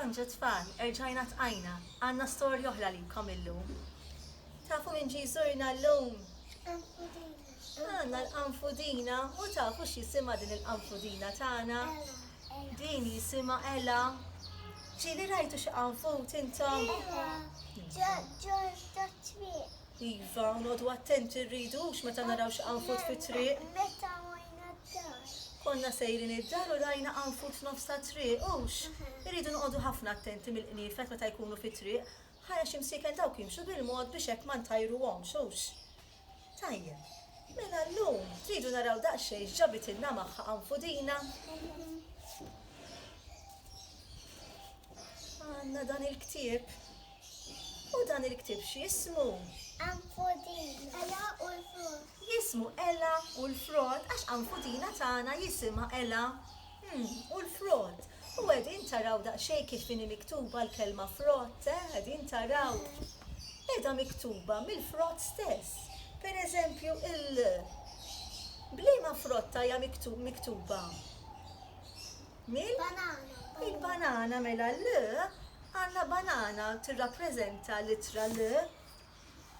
Bonġu tfal, erġajna tqajna, għandna storja oħra għalikom illum. Tafu min ġie jżurna llum? L-qanfudina. Għandna l-qanfudina u tafu x'jisimha din il-qanfudina tagħna? Din jisimha Ela. Ġieli rajtu xi qanfud intom? Iva. Ġo t-triq. Iva, noqogħdu attenti rridu għax meta naraw xi qanfut fit-triq. Meta għajna d-dar. Konna sejrin id-dar u rajna qanfut f'nofs tat-triq, hux? Irridu noqogħdu ħafna attenti mill-qniefel meta jkunu fit-triq, ħajr għax imsiekel dawk jimxu bil-mod biex hekk ma ntajruhomx, hux? Tajjeb. Mela llum tridu naraw daqsxejn x'ġabitilna magħha qanfudina. Għandna dan il-ktieb. U dan il-ktieb x'jismu? Anfudina. Ela u l-Frott. Jismu Ela u l-Frott għax Anfudina tagħna jisimha Ela u l-Frott. U qegħdin taraw daqsxejn kif inhi miktuba l-kelma frott, eh? Qegħdin taraw? Qiegħda miktuba mill-frott stess. Per eżempju, il-l b'liema frotta hija miktuba? Mill? Banana. Il-banana mela l għandna banana tirrappreżenta l-ittra l.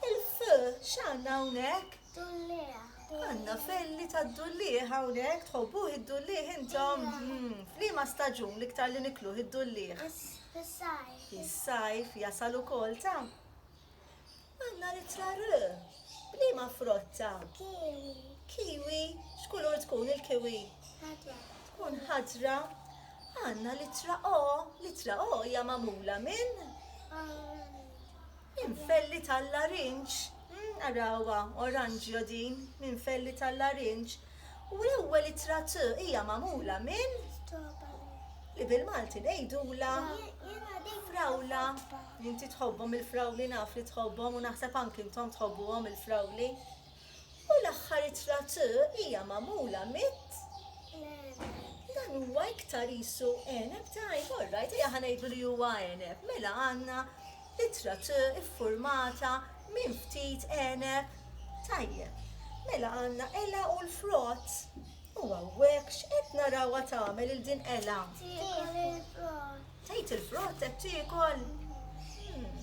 Il-f x'għandna hawnhekk? Dullieħ. Għandna felli tad-dullieħ hawnhekk, tħobbuh id-dullieħ intom? Iva. Hmm, f'liema staġun l-iktar li nikluh id-dullieħ? Fis-sajf. Fis-sajf jasal ukoll ta'? Għandna l-ittra r. B'liema frott ta'? Kiwi. Kiwi. X'kulur tkun il-kiwi? Ħadra. Tkun ħadra. Għandna l-ittra O. L-ittra O hija magħmula minn? Minn felli tal-larinġ. Arawha, oranġjo din, minn felli tal-larinġ. U l-ewwel ittra T hija magħmula minn li bil-Malti ngħidulha frawla. Inti tħobbhom il-frawli naf li tħobbhom u naħseb anki intom tħobbuhom il-frawli. U l-aħħar ittra T hija magħmula mit dan huwa iktar isu eneb tajb, all right, hija ħanejdlu li huwa eneb. Mela għandna Ittra T iffurmata minn ftit għeneb, tajjeb. Mela għandna Ela u l-frott. U hawnhekk x'qed narawha tagħmel il din Ela? Tiekol il-frott. Tgħid il-frott qed tiekol?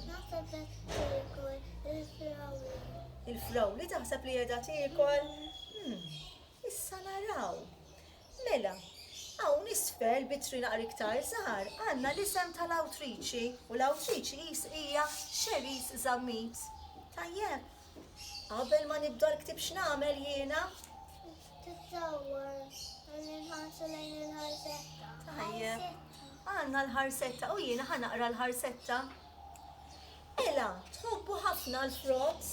Naħseb qed tiekol il-frawli. Il-frawli taħseb li qiegħda tiekol? Issa naraw. Mela, hawn isfel b'itri naqra iktar żgħar għandna l-isem tal-awtriċi u l-awtriċi qis hija Cherise Zammit. Tajjeb? Qabel ma nibda l-ktieb x'nagħmel jiena? Tissawwar billi nħarsu lejn il-ħarsetta. Tajjeb. Għandna l-ħarsetta u jiena ħa naqra l-ħarsetta. Ela, tħobbu ħafna l-frott?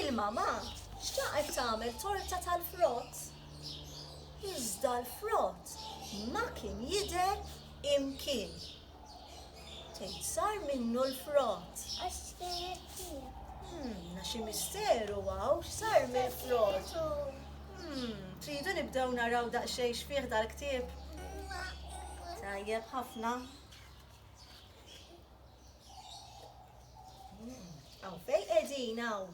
Il-mamà xtaqet tagħmel torta tal-frott. Iżda l-frott ma kien jidher imkien. Tgħid sar minnu l-frott. Għax kienet fija. Hmm, xi misteru għaw, sar mill-frott. Hmm, tridu nibdew naraw daqsxejn x'fih dal-ktieb? Tajjeb ħafna. Għaw mm, fej edin għaw?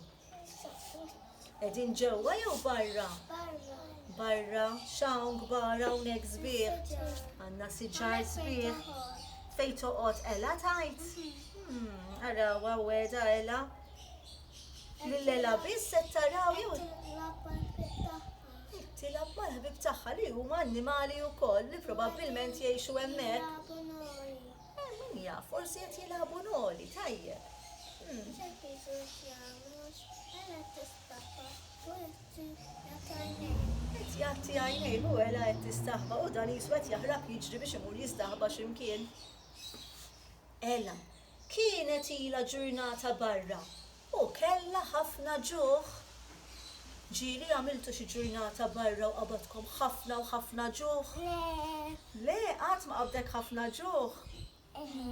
Edin ġewwa jew barra? Barra. Barra, xawn gbar hawnhekk sbieħ. Għandna siġar sbieħ. Fej toqgħod ela tajt? Hmm, ara għaweda ela. Lillela biss qed taraw jew. Tilab mal-ħbib tagħha li huma annimali wkoll li probabbilment jgħixu hemmhekk. Eh, min jaf, forsi qed jilagħbu noli, tajjeb. Hmm. Ċertitu x'jagħmlux, ela tistaħba, u jagħti jagħti għajnejh. Qed jagħti għajnejh u ela qed tistaħba u dan jiswed jaħrab jiġri biex imur jistaħba x'imkien. Ela, kienet ilha ġurnata barra U kellha ħafna ġuħ. Ġieli, għamiltu xi ġurnata barra u qabadkom ħafna u ħafna ġuħ? Le. Le, qatt ma qabdek ħafna ġuħ? Eħe.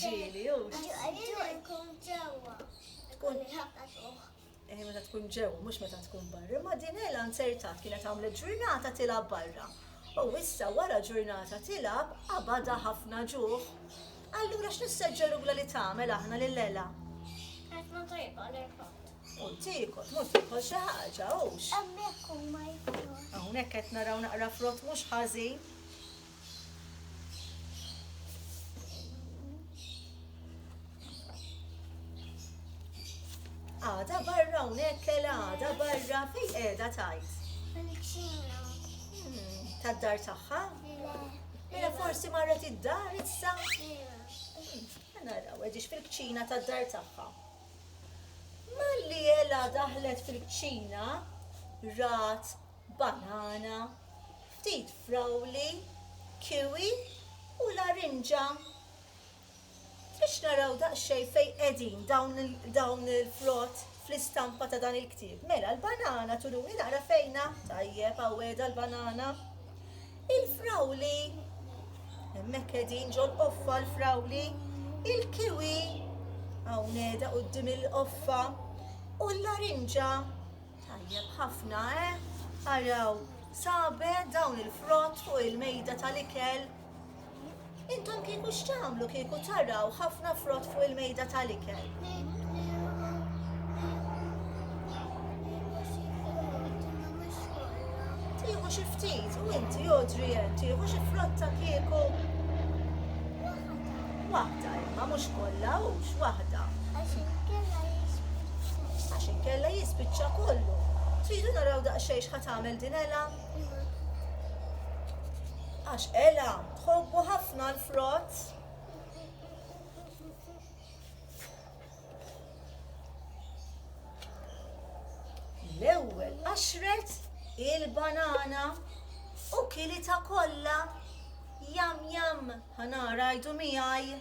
Ġieli, u? Ġieli nkun ġewwa. Tkun ħafna ġuħ. Eh, meta tkun ġewwa, mhux meta tkun barra. Ma din Ela nzertat kienet għamlet ġurnata tilgħab barra. U issa wara ġurnata tilgħab qabadha ħafna ġuħ. Allura x'nisseġġerula li tagħmel aħna lil Ella? Ħafna tajba l-irħad. U tiekol, mhux tiekol xi ħaġa, hux. Hemmhekk huma jkunu. Hawnhekk qed naraw naqra frott mhux ħażin. Għada barra hawnhekk Ella, għada barra fejn qiegħda tajt. Fil-ċina. Hmm, Tad-dar tagħha? Le. Mela forsi marret id-dar issa? Naraw, għedix fil-kċina tad-dar tagħha. Malli jela daħlet fil-kċina, rat, banana, ftit frawli, kiwi u larinġa. Biex naraw daqsxejn fejn qegħdin dawn il-frott fl-istampa ta' dan il-ktieb. Mela, l-banana turuni naqra fejna, tajjeb għaweda l-banana. Il-frawli, hemmhekk qegħdin ġol qoffa l-frawli, il-kiwi hawneda quddiem il-qoffa u l-larinġa tajjeb ħafna, eh? Araw, sabe dawn il-frott fuq il-mejda tal-ikel. Intom kieku x'tagħmlu kieku taraw ħafna frott fuq il-mejda tal-ikel? Tieħu xi ftit u inti jodri hemm tieħu xi frotta kieku. Waħda imma mhux kollha hux waħda. Għax inkella jispiċċa kollu. Tridu naraw daqsxejn x'ħa tagħmel dinela? Għax Ela tħobbu ħafna l-frott. L-ewwel qaxret il-banana u kilita kollha jam jam ħanara jdu miegħi.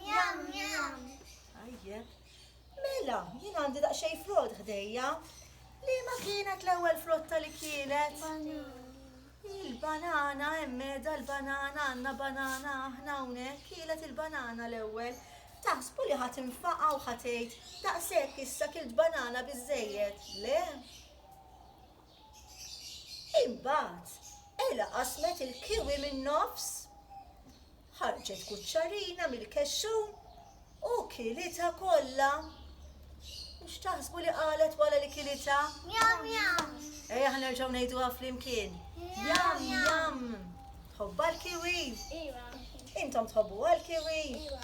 Jam jam. Ajjeb. Mela, jien għandi daqsxejn frott ħdejja. Liema kienet l-ewwel frotta li kielet? Il-banana, hemm meda l-banana, għandna banana aħna hawnhekk, kielet il-banana l-ewwel. Taħsbu li ħadd infaqa u ħatejt, daqshekk issa kilt banana biżejjed. Le? Imbagħad Ella qasmet il-kiwi min-nofs, ħarġet kuċċarina mill-kexxun u kilitha kollha. U x'taħsbu li qalet wara li kilitha? Jam jam! Ejja ħnerġgħu ngħiduha flimkien. Jam jam! Tħobbha l-kiwi? Iva. Intom tħobbuha l-kiwi? Iva.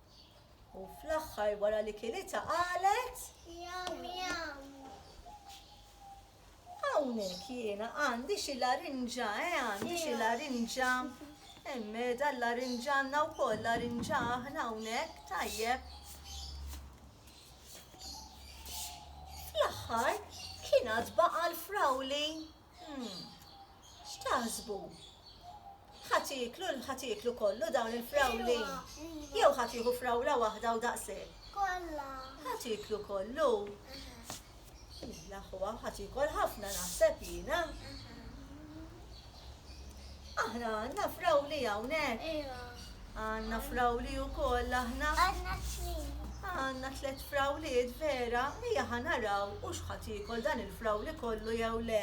U fl-aħħar wara li kilitha qalet. Jam jam. Hawnhekk jiena għandi xi larinġa, eh, għandi xi larinġa. Emmeda l-larinġa għandna wkoll larinġa aħna hawnhekk tajjeb. Fl-aħħar kien għad baqa' l-frawli. Umm. X'taħsbu? Ħadd jieklu ħadd jieklu kollu dawn il-frawli? Jew ħadd jieħu frawla waħda u daqshekk? Kollha. Ħadd jieklu kollu? L-aħwa ħadd jiekol ħafna naħseb jiena. Aħna għandna frawli hawnhekk? Iva. Għandna frawli wkoll aħna? Għandna tliet. Għandna tliet frawliet vera, ejja ħa naraw u x'ħadd jiekol dan il-frawli kollu jew le.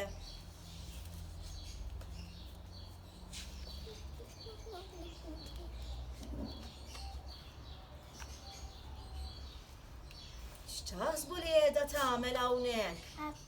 X'taħsbu li qiegħda tagħmel hawnhekk?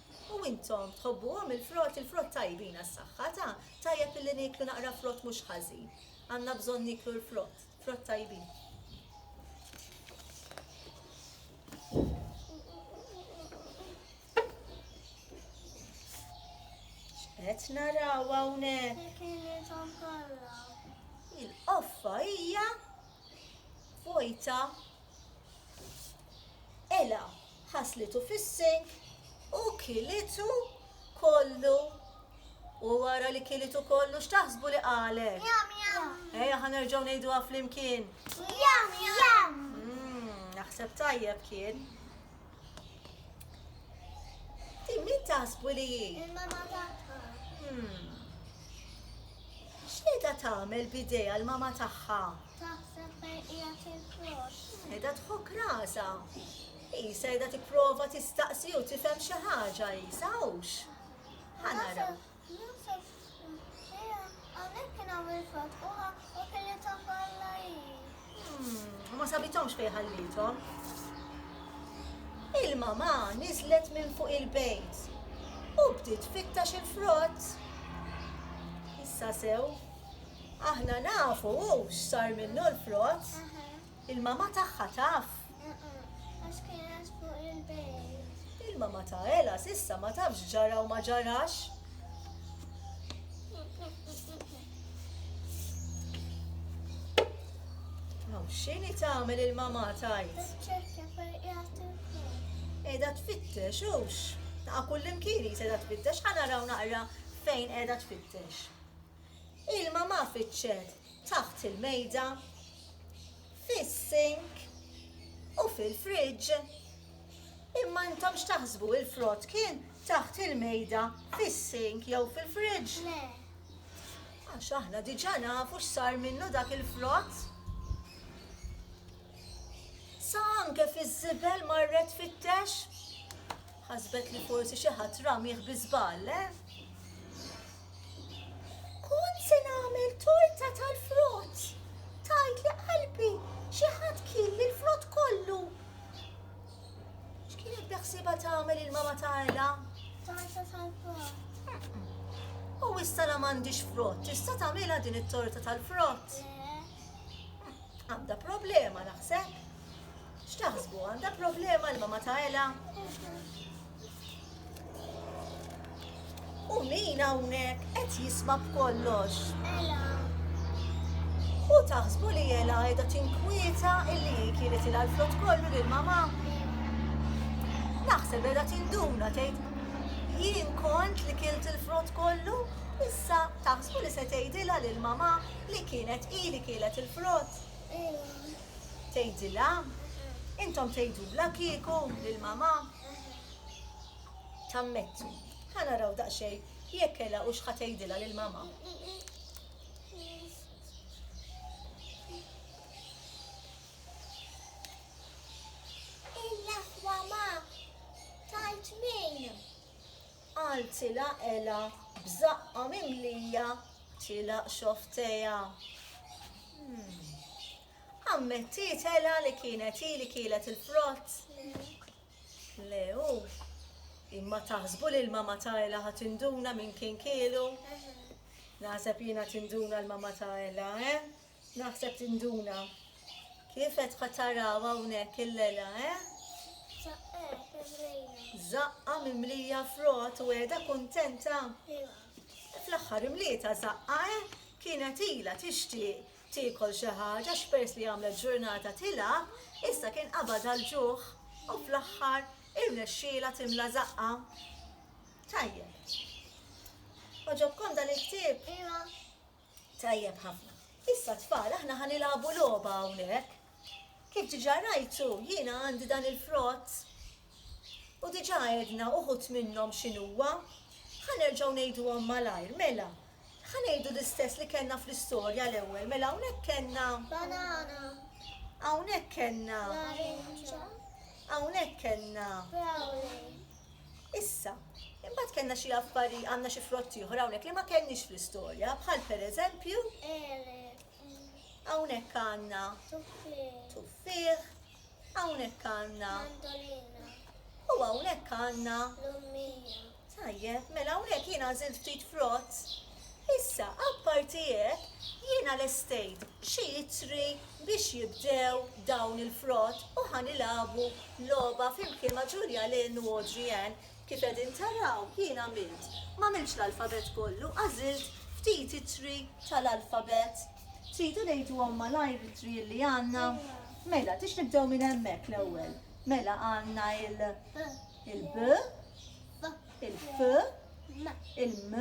U intom tħobbuhom il-frott? Il-frott tajbin għas-saħħa, ta? Tajjeb illi nieklu naqra frott mhux ħażin. Għandna bżonn nieklu l-frott, frott tajbin. Qed naraw hawnhekk. Il-qoffa hija vojta Ela ħaslitu fis-sink u kilitu kollu. U wara li kilitu kollu x'taħsbu li qalet? Ejja ħa nerġgħu ngħiduha flimkien. Jam jam! Mm, naħseb tajjeb kien. Ti min taħsbu li hi? Il-mama tagħha. Hmm. X'qiegħda tagħmel bidejha l-mama tagħha? Taħseb fejn hija fil-frox. Qiegħda tħok rasa. Isa qiegħda tipprova tistaqsi u tifhem xi ħaġa isa hux. Ħanara. Josef Ġie hawnhekk kien għamel frott u ħa u kelithom bħala hi. Hm, u ma sabithomx fejn ħallithom. Il-mamà niżlet minn fuq il-bejt u bdiet fittax il-frott. Issa sew, aħna nafu x'sar minnu l-frott. Il-mamà tagħha taf? Eqe, għax kienet fuq il-bejt. Il-mamà ta' Ela s'issa ma tafx x'ġara u ma ġarax. Aw, x'inhi tagħmel il-mamà tgħid? Tiċċekkja fejn qiegħed il-fuq. Qiegħda tfittex hux. Taqa' kullimkien hi se qiegħda tfittex, ħa naraw naqra fejn qiegħda tfittex. Ilma ma fiċċet taħt il-mejda, fis-sink u fil-friġġ. Imma intom x'taħsbu il-frott kien taħt il-mejda, fis-sink jew fil-friġġ? Le. Għax aħna diġà nafu x'sar minnu dak il-frott. Sa anke fiż-żibel marret fittex. Ħasbet li forsi xi ħadd ramih bi żball, eh? Kont se nagħmel torta tal-frott. Tgħidli qalbi xi ħadd kiel l-frott kollu. X'kienet beħsiebha tagħmel il-mama ta' Ella? Torta tal-frott. U issa la m'għandix frott, issa tagħmilha din it-torta tal-frott. Għandha problema naħseb. X'taħsbu għandha problema l-mama ta' Ella? U min hawnhekk qed jisma' b'kollox? Ela. U taħsbu li Ela qiegħda tinkwieta illi hi kienet ilha l-frott kollu lil mama? Naħseb qiegħda tinduna tgħid jien kont li kilt il-frott kollu, issa taħsbu li se tgħidilha lil mama li kienet hi li kielet il-frott. Tgħidilha? Intom tgħidulha kieku lil mama? Tammetti. Ħa naraw daqsxejn jekk kelha u x'ħa tgħidilha lil mama. Il-laqwa ma tajt min. Qaltilha ela b'żaqqa mimlija tilaq xofteja. Hmm. Ammettiet Ela li kienet hi li kielet il-frott? Le hu. Imma taħsbu li l-mama ta' Ela ħa tinduna min kien kielu? Naħseb jiena tinduna l-mama ta' Ela, eh? Naħseb tinduna. Kif qed ħa taraw hawnhekk il-Ela, eh? Zaqqa mimlija frott u qiegħda kuntenta. Fl-aħħar imlieta zaqqa, eh? Kienet ila tixtieq tiekol xi ħaġa għax peress li għamlet ġurnata tilgħab, issa kien qabadha l-ġuħ u fl-aħħar irnexxielha timla żaqqha. Tajjeb. Għoġobkom dan il-ktieb? Iva. Tajjeb ħafna. Issa tfal aħna ħa nilagħbu logħba hawnhekk. Kif diġà rajtu jiena għandi dan il-frott U diġà għedna uħud minnhom x'inhuwa. Ħa nerġgħu ngħiduhom malajr. Mela, ħa ngħidu l-istess li kellna fl-istorja l-ewwel. Mela hawnhekk kellna. Banana. Hawnhekk kellna. Larinġa. Hawnhekk kellna. Brownie. Issa, imbagħad kellna xi affari għandna xi frotti oħra hawnhekk li ma kellniex fl-istorja, bħal pereżempju. Ele. Hawnhekk għandna. Tuffieħ. Tuffieħ. Hawnhekk għandna. Mandolina. U hawnhekk għandna. Lummija. Tajjeb, mela hawnhekk jien għażilt ftit frott. Issa, apparti hekk, jiena lestejt xi itri biex jibdew dawn il-frott u ħa nilagħbu logħba flimkien ma' Julia Lynn u Audrey Ann Kif qegħdin taraw, jien għamilt, m'għamiltx l-alfabett kollu, għażilt ftit ittri tal-alfabett. Tridu ngħiduhom malajr l-ittri li għandna? Mela, tix nibdew minn hemmhekk l-ewwel? Mela għandna il il-b, il-f, il-m,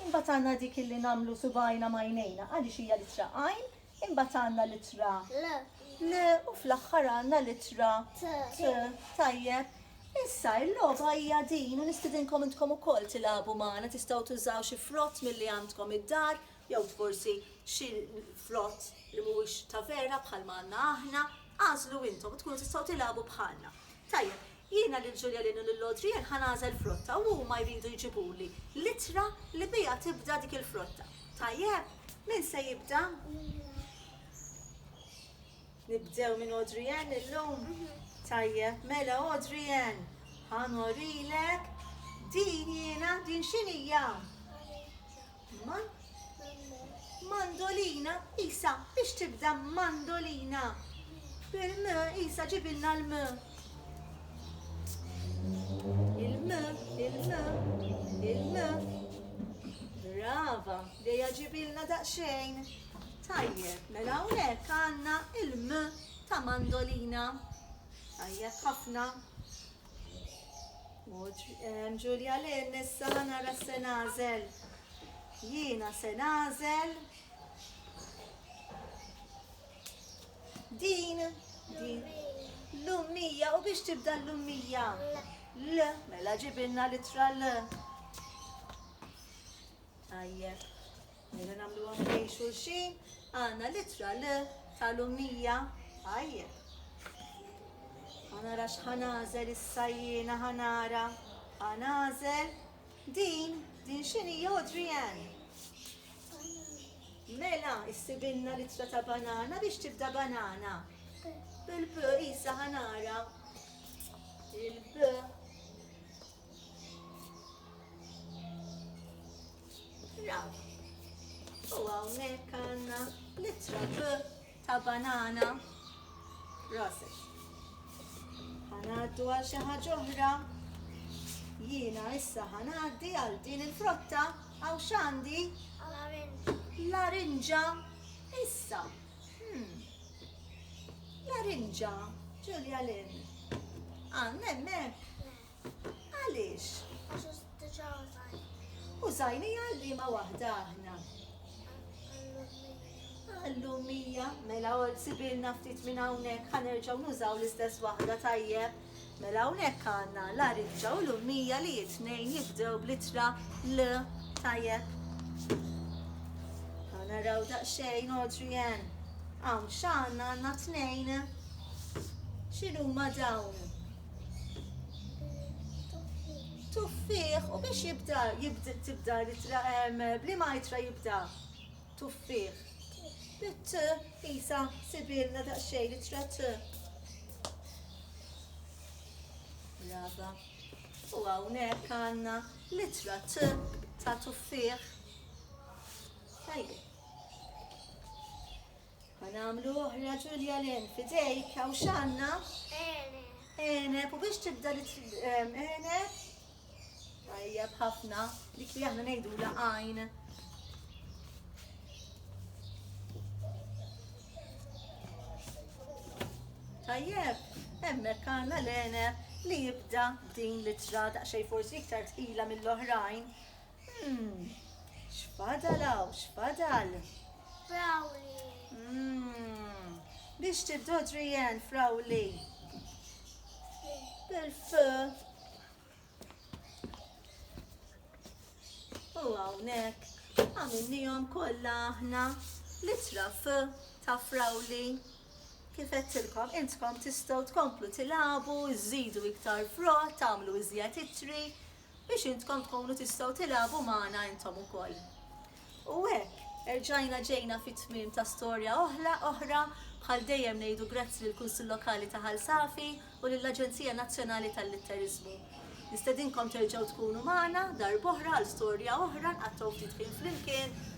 imbagħad għandna dik illi nagħmlu subajna ma' għajnejna għaliex hija l-ittra għajn, Imbagħad għandna l-ittra L. L u fl-aħħar għandna l-ittra T. T. Tajjeb. Issa, il-logħba hija din u nistidinkom intkom ukoll tilagħbu magħna, tistgħu tużaw xi frott milli għandkom id-dar, jew forsi xi frott li mhuwiex ta' vera bħalma għandna aħna, għażlu intom u tkunu tistgħu tilagħbu bħalna. Tajjeb, Jiena lil Ġuljalin u lil Odriel ħa nagħżel frotta u huma jridu jġibuli l-ittra li biha tibda dik il-frotta. Tajjeb? Min se jibda? Nibdew minn Odriel illum? Tajjeb, mela Odriel, ħa norilek din jiena, din x'inhija? Ma, mandolina, Isa, biex tibda mandolina. Bil-m, Isa, ġibilna l-m. Il-m, il-m, il-m. Brava, dejja ġibilna daqsxejn. Tajjeb, mela hawnhekk għandna il-m ta' mandolina. Tajjeb ħafna. Ġulja Lynn, issa ħa nara se nagħżel. Jiena se nagħżel. Din, din. L-ummija, u biex tibda l-ummija? L, mela ġibilna litra L. Tajjeb. Mela nagħmluha ħdejn xulxin, għandna l-ittra L tal-ummija tajjeb. Ħanara x'ħanażel issa jiena ħanara ħanażel din din x'inhi Audrey Ann. Mela, issibilna l-ittra ta' banana biex tibda banana. Bil-b, isa ħanara. Il-b. Raw. U hawnhekk għandna litra B ta' banana. Roses. Ħanaddu għal xi ħaġa oħra. Jiena issa ħanaddi għal din il-frotta għaw xandi? Larinġa. Issa. Hmm. Larinġa. Ġulja Lin. Għannem, Għaliex? Għax diġà użajni. Użajni għal liema waħda aħna. Għallumija, mela għol sibilna ftit minn hawnhekk ħanerġgħu nużaw l-istess waħda tajjeb. Mela hawnhekk għandna la riġġa u l-ummija li jitnejn jibdew blitra l tajjeb. Għana raw daqsxejn Adrian. Hawn x'għandna għandna tnejn. X'inhuma dawn? Tuffieħ, u biex jibda, jibda tibda litra blima jitra jibda. Tuffieħ. Bit isa sibilna daqsxejn litra t. Brava. U hawnhekk għandna litra t ta' tuffieħ. Tajjeb. Ħa nagħmlu oħra Ġulja l-en f'idejk hawn x'għandna? Eneb, u biex tibda li eneb? Tajjeb ħafna, dik li aħna ngħidu la għajn. Tajjeb, hemmhekk għandna l-eneb li jibda din l-ittra daqsxejn forsi iktar tqila mill-oħrajn. Mmm, x'fadal hawn, x'fadal? Frawli. Mmm, biex tiddodri jen, frawli. Bil-f. U hawnhekk għamilnihom kollha aħna litra f ta' frawli. Kif qedtilkom, intkom tistgħu tkomplu tilagħbu, iżidu iktar frott, tagħmlu iżjed itri, biex intkom tkunu tistgħu tilagħbu magħna intom ukoll. U hekk, erġajna ġejna fit-tmiem ta' storja oħla oħra bħal dejjem ngħidu grazzi lill Kunsill Lokali ta' Ħal Safi u lill-Aġenzija Nazzjonali tal-Litteriżmu. Nistedinkom terġgħu tkunu magħna darb'oħra għal storja oħra nqattgħu ftit ħin flimkien